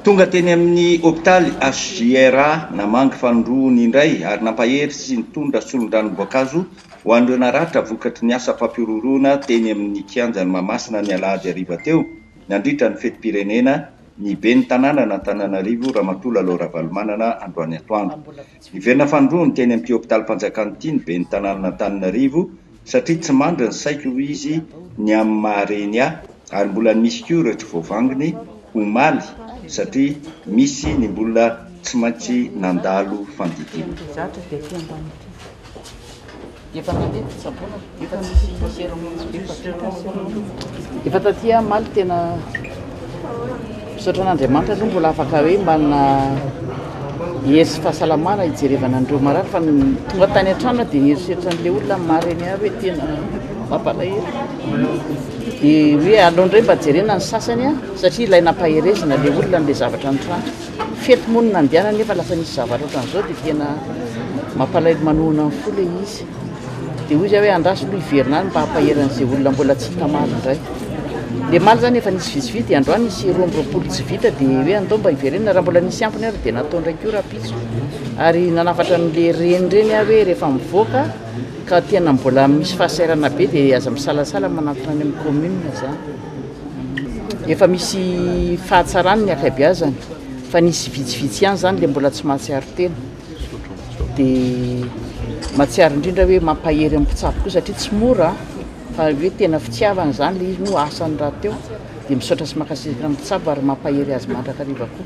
Tonga teny amin'ny hopitaly HJRA namangy fanondroany indray ary nampahery sy nitondra solondranom-boankazo ho an'ireo naratra vokatry ny asa fampihorohoroana teny amin'ny kianjan'i Mahamasina ny alahady hariva teo nandritra ny fetim-pirenena ny ben'ny tanànan'Antananarivo Ramatoa Lalao Ravalomanana androany atoandro. Hiverina fanindroany teny amin'ity hopitalim-panjakana ity ny ben'ny tanànan'Antananarivo satria tsy mandry ny saiko, hoy izy, ny amin'ny maha reny ahy ary mbola misy koa ireo tsy voavangony omaly satria misy ny mbola tsy maintsy nandalo fandidiana. Efa nandeha ny fitsaboana, efa tsy misy fitaosera mihitsy, efa vita ny seremony. Efa taty aho omaly tena misaotra an'Andriamanitra aloha mbola afaka hoe manana hery sy fahasalamana hijerevana an'ireo marary fa ny tonga tany an-trano aho dia nieritreritra an'ilay olona marary eny ahy hoe tena mampalahelo. Dia hoe aleo indray mba jerena ny sasany a, satria ilay nampaherezina ilay olona an'ilay zavatra nitranga. Fety moa no nandehana nefa lasa nisy zavatra ohatran'izao dia tena mampalahelo manohina ny fo ilay izy. Dia hoy izahay hoe andraso aloha hiverina any mba hampahery an'izay olona mbola tsy hita maro indray. Ilay maly izany efa nisy vitsivitsy dia androany nisy roa amby roapolo tsy vita dia hoe andao mba hiverenana raha mbola nisy ampiny ary dia natao indray koa rahampitso. Ary nanafatra an'ilay reny ireny aho hoe rehefa mivoaka ka tena mbola misy fahasahiranana be dia aza misalasala manantona any amin'ny commune izany. Efa misy fahatsarany ny akabiazany fa nisy vitsivitsy ihany zany le mbola tsy mahatsiaro tena de mahatsiaro indrindra hoe mampahery amin'ny mpitsabo koa satria tsy mora fa hoe tena fitiavana zany le izy no asany rahateo de misaotra sy makasitraka amin'ny mpitsabo ary mampahery azy mandrakariva koa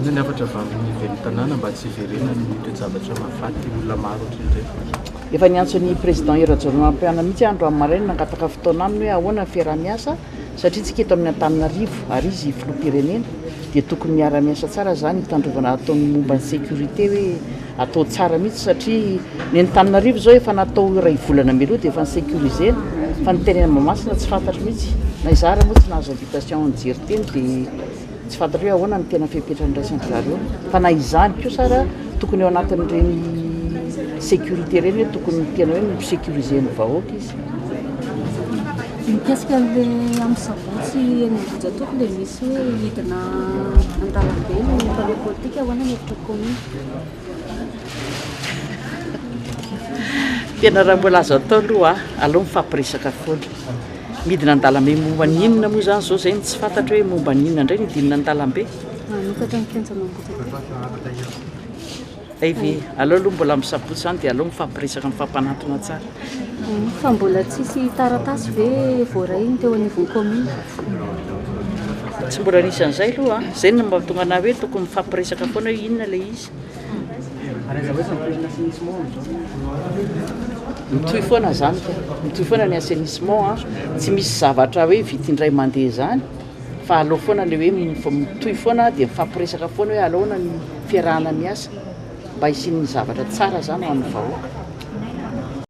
Inona ny hafatra vavin'ny ivelotanàna mba tsy hiverenany ny toe-javatra mahafaty olona maro ohatr'ireny? Efa niantso an'i Président Hery Rajaonarimampianina mihitsy aho androany maraina nangataka fotoana aminy hoe ahoana ny fiaraha-miasa satria tsika eto amin'ny Antananarivo ary izy filoham-pirenena dia tokony miara miasa tsara izany hitandrovana ataony momba ny sécurité hoe atao tsara mihitsy satria ny Antananarivo izao efa natao iray volana mialoha dia efa ny sécurisé fa ny teny Mahamasina tsy fantatro mihitsy na izaho raha moa tsy nahazo invitation nijery teny dia Tsy fantatro hoe ahoana ny tena fepetra andraisan-dry zareo fa na izany kosa ary tokony ao anatin'ireny sécurité ireny hoe tokony tena hoe mi-securiser ny vahoaka izy. Mikasika an'ilay amin'ny savotsy eny Ambohijatovo dia misy hoe hidina an-dalambe ny mpanao politika, ahoana ny hevitra commune? Tena raha mbola azo atao aloha aleo mifampiresaka foana. Midina an-dalambe momba ny inona moa izany izao izay no tsy fantatro hoe momba ny inona indray ny hidinina an-dalambe? Manokatra ny kianja mangotraka. Hay ve? Aleo aloha mbola misampotsa izany dia aleo mifampiresaka mifampanantona tsara. Fa mbola tsisy taratasy ve voaray ny teo anivon'ny commune? Tsy mbola nisy an'izay aloha an! Izay no mahatonga anah hoe tokony mifampiresaka foana hoe inona ilay izy. Mitohy foana izany ka! Mitohy foana ny assainissement an! Tsy misy zavatra hoe vita indray mandeha izany fa aleo foana ilay hoe mitohy foana dia mifampiresaka foana hoe alaona ny fiarahana miasa mba hisian'ny zavatra tsara izany ho an'ny vahoaka.